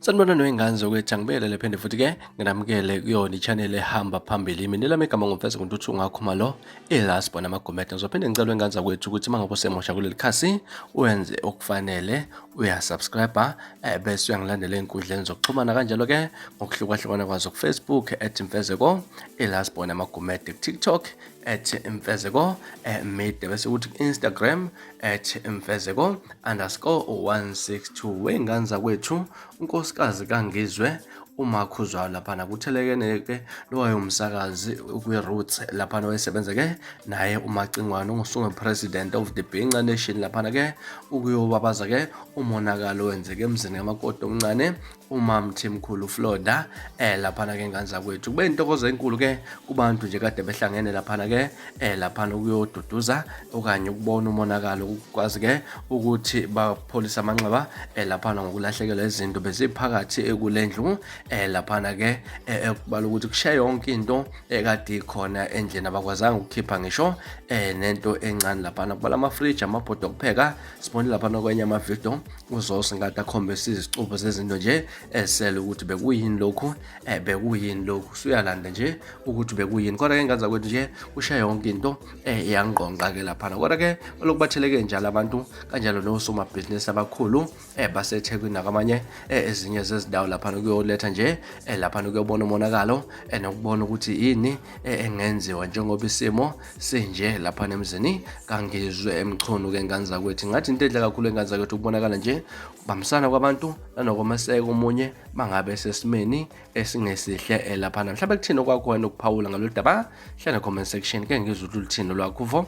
sanibona noyingane zokwethu angibekele lephende futhi ke nginamukele kuyona i-channel ehamba phambili mina lami igama ngumfeza kuntuthu ungakhuma lo i-last bona amagomede ngizophinde ngicela ingane zakwethu ukuthi uma ngabe usemusha kuleli khasi wenze okufanele uyasubscribe eh, bese uyangilandela ey'nkundleni zokuxhumana kanjalo-ke ngokuhlukahlukana kwazo kufacebook at mfezeko i-last bona amagomede kutiktok at mfezeko eh, media bese kuthi ku-instagram at mfezeko underscore 162 wey'ngane zakwethu unkosikazi kangizwe uma khuzwayo laphana kuthelekene-ke lowayo msakazi kwi-roots laphana oyesebenza-ke naye umacingwane ungusunge president of the binca nation laphana-ke ukuyobabaza-ke umonakalo wenzeke emzini kamakoti omncane umamthimkhulu Florida eh laphana ke ngane zakwethu kube intokozo enkulu ke kubantu nje kade behlangene laphana ke eh laphana ukuyoduduza okanye ukubona umonakalo ukwazi ke ukuthi bapholisa amanxeba eh laphana ngokulahlekelwa izinto beziphakathi ekulendlu eh laphana ke eh, ekubala ukuthi kushaye yonke into ekade ikhona endlini abakwazanga ukukhipha ngisho eh nento encane laphana kubala ama fridge amabhodo okupheka sibone laphana kwenye ama video uzosi ngathi akhombisa izicubu zezinto nje esele ukuthi bekuyini lokhu um eh, bekuyini lokhu suyalanda nje ukuthi bekuyini kodwa-ke ngaza kwethu nje kusha yonke into um eh, yangqongqa-ke laphana kodwa-ke olokubatheleke njalo abantu kanjalo nosomabhizinisi abakhulu um eh, basethekwini nakwamanye um ezinye zezindawo laphana kuyoletha nje um laphana kuyobona umonakalo um nokubona ukuthi yini engenziwa njengoba isimo sinje lapha nemzini kangizwe emchunu ke ngane zakwethu ngathi into edla kakhulu engane zakwethu ukubonakala nje ubambisana kwabantu nanokomaseka omunye bangabe sesimeni esingesihle eh, laphana mhlawumbe kuthini okwakho wena ukuphawula ngalolu daba hlala comment section ke ngizwe ukuthi luthini lwakho vo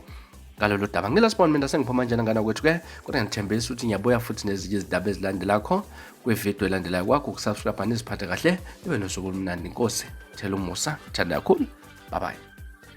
ngalolu daba ngilasibona mina sengiphuma njena ngana kwethu ke kodwa ngithembisa ukuthi ngiyabuya futhi nezinye izindaba ezilandelakho kwividiyo elandelayo kwakho ukusubscribe niziphathe kahle ibe nosuku olumnandi inkosi thela umusa thanda kakhulu bye bye